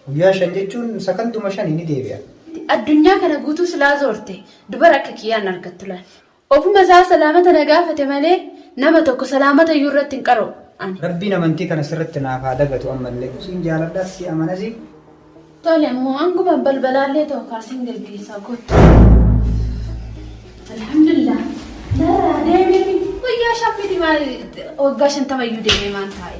Guyyaa shan jechuun sakanduma shani ni deebi'a. Ati addunyaa kana guutuu silaa zoorte dubara akka kiyyaa hin argattu laal. Ofuma isaa salaamata na gaafate malee nama tokko salaamata iyyuu irratti hin qara'u ani. Rabbiin amantii kana sirratti naaf haa dagatu ammallee siin jaaladha si amanasi. Tole ammoo hanguma balbalaallee ta'u kaa siin gaggeessaa kottu. Alhamdulillah narraa deemee miti guyyaa shan miti maal waggaa shantama iyyuu deemee maan taa'e.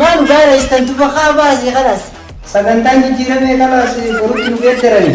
Maan gaara istantu bakaa baasii kalas. Sagantaan jijjiiramee kalaas borutti nu geeddarani.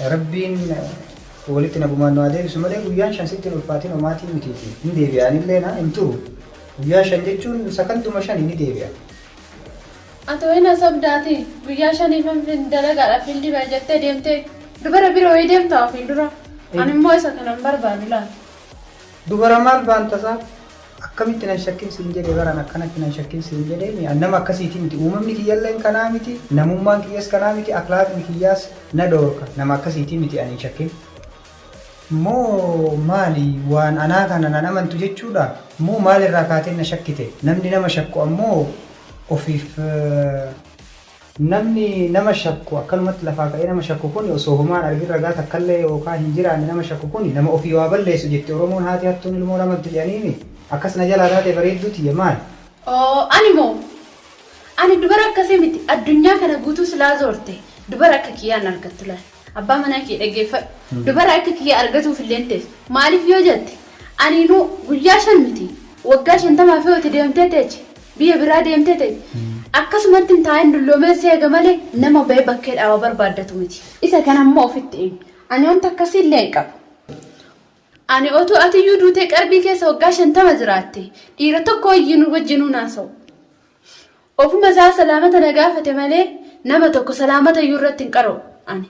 Yaa Rabbiin walitti nagumaan nu haa deebisu malee guyyaan shan sitti hin ulfaatiin homaatii mitiiti. Hin deebi'a anillee na hin turu. Guyyaa shan jechuun sakanduma shani ni deebi'a. Ati wayii na sobda ati guyyaa shaniifan fin dalagaadha fiildi bahe jettee deemtee dubara bira wayii deemta ofiin dura ani immoo isa kanan barbaadu laal. Dubara maal baan tasaa akkamitti nan shakkin siin jedhe bar an akkanatti nan shakkin siin jedheemi an nama akkasiiti miti uumamni kiyyalleen kanaa miti namummaan kiyyas kanaa miti aklaaqni kiyyaas na dhoorka nama akkasiiti miti an hin shakkin moo maali waan anaa kana nan amantu jechuudha moo maal irraa kaateen na shakkite namni nama shakku ammoo ofiif Namni nama shakku, akkanumatti lafaa ka'ee nama shakku kuni osoo homaa hin argin ragaa takkallee yookaa hin jiraanne nama shakku kuni nama ofii waa balleessu jetti Oromoon haati hattuun ilmoo ramaddu jedhaniimi? Akkas na jalaa taate bareedduu tiyya maali? Oo ani moo? Ani dubara akkasii miti addunyaa kana guutuu silaa zoorte dubara akka kiyyaa hin argattu laal. Abbaa manaa kee dhaggeeffadhu. Dubara akka kiyyaa argatuuf illee hin teessu. Maaliif yoo jette, aniinuu guyyaa shan miti, waggaa shantamaaf yoo itti deemtee teeche, biyya biraa deemtee teeche, akkasumatti hin taa'in dulloomeen si eega malee nama ba'ee bakkee dhaaba barbaaddatu miti. Isa kana immoo ofitti himi. Ani wanta akkasii illee hin qabu. Ani otuu atiyyuu duutee qarbii keessa waggaa shantama jiraattee, dhiira tokko wajjinuu hin haasa'u. Ofuma isaa salaamata na gaafate malee nama tokko salaamata iyyuu irratti hin qara'u ani.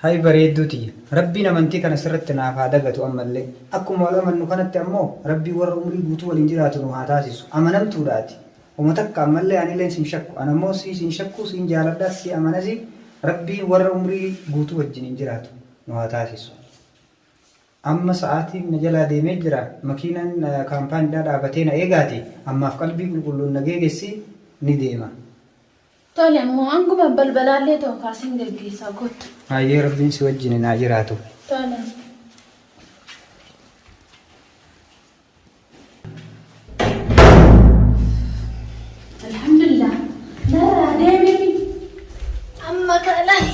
Hay bareedduu tiyya! Rabbiin amantii kana sirratti naaf haa dagatu ammallee. Akkuma wal amannu kanatti ammoo Rabbiin warra umrii guutuu waliin jiraatu nu haa taasisu. Amanamtuudha ati. Homa takka ammallee anileen sin shakku. An ammoo siis hin shakku, siin jaaladhas, si amanasi. Rabbiin warra umrii guutuu wajjin hin jiraatu nu haa taasisu. Amma sa'aatiin na jalaa deemee jira, makiinaan kaampaanidhaa dhaabatee na eegaati, ammaaf qalbii qulqulluun na geegessi, ni deema. Tole ammoo hanguma balbalaallee ta'u kaa sin geggeessaa kottu. Hayyee Rabbiin si wajjinin haa jiraatu. Tole. Alhamdulillah narraa deemee miti amma kaa laali.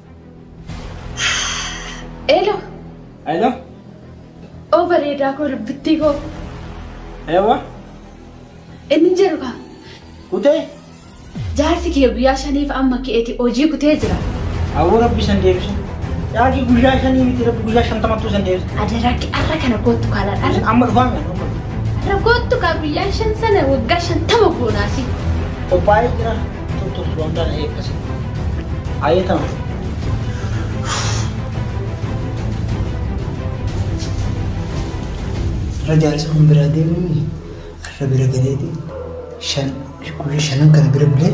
Elo. Elo. Oo bareedaa koo dubbittii koo. Ewa. Inni hin jedhu kaa. Kutee. Jaarsi kee guyyaa shaniif amma keeti hojii kutee jira. Awwa rabbi san deebisa. Jaarsi guyyaa shanii miti rabbi guyyaa shantamattuu san deebisa. Adeeraakki arra kana koottu kaala dhala. Amma dhufaa nyaannu. Rakkoottu kaa guyyaa shan sana waggaa shantama goonaasi. Qophaa'ee jira. Tuttu suwan kana eekkasi. Ayetam. Rajaa isa kun biraa deemuun arra bira galeeti shan guyyaa shanan kana bira bulee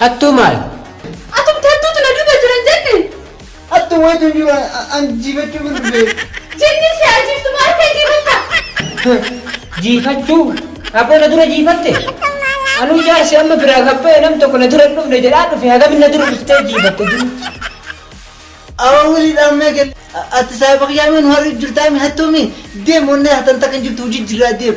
Hattuu maali? Atumti hattuutu na duuba jira hin jenne? Hattuu wayitu hin jiru an jiifachuufin dhufe. Jinniin si haa jiiftu moo harka jiifatta? Jiifachuu? Aboo na dura jiifatte? Anuu jaarsi amma biraa gad ba'e nam tokko na dura hin dhufne jedhaa dhufe hagam na dura dhuftee jiifatte jinnichi. Aboo wulii dhaamnee kenne. Ati saahiba kiyyaa mee nu har'uuf jirtaami hattuumi? Deem onnee hatan takka hin jirtu hojii jirraa deem.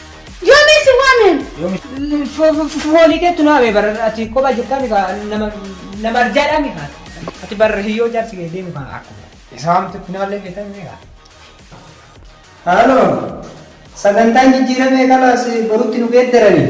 Yoomee si waameen. Foolii keetu naame bara ati kopha jirtaa mika nama nama arjaadhaa mika ati bara hiyyoo jaarsi kee deemu kan akkuma isaa hamtu finaallee beekan mika. Haaloo sagantaan jijjiiramee kalaas borutti nu geeddaranii.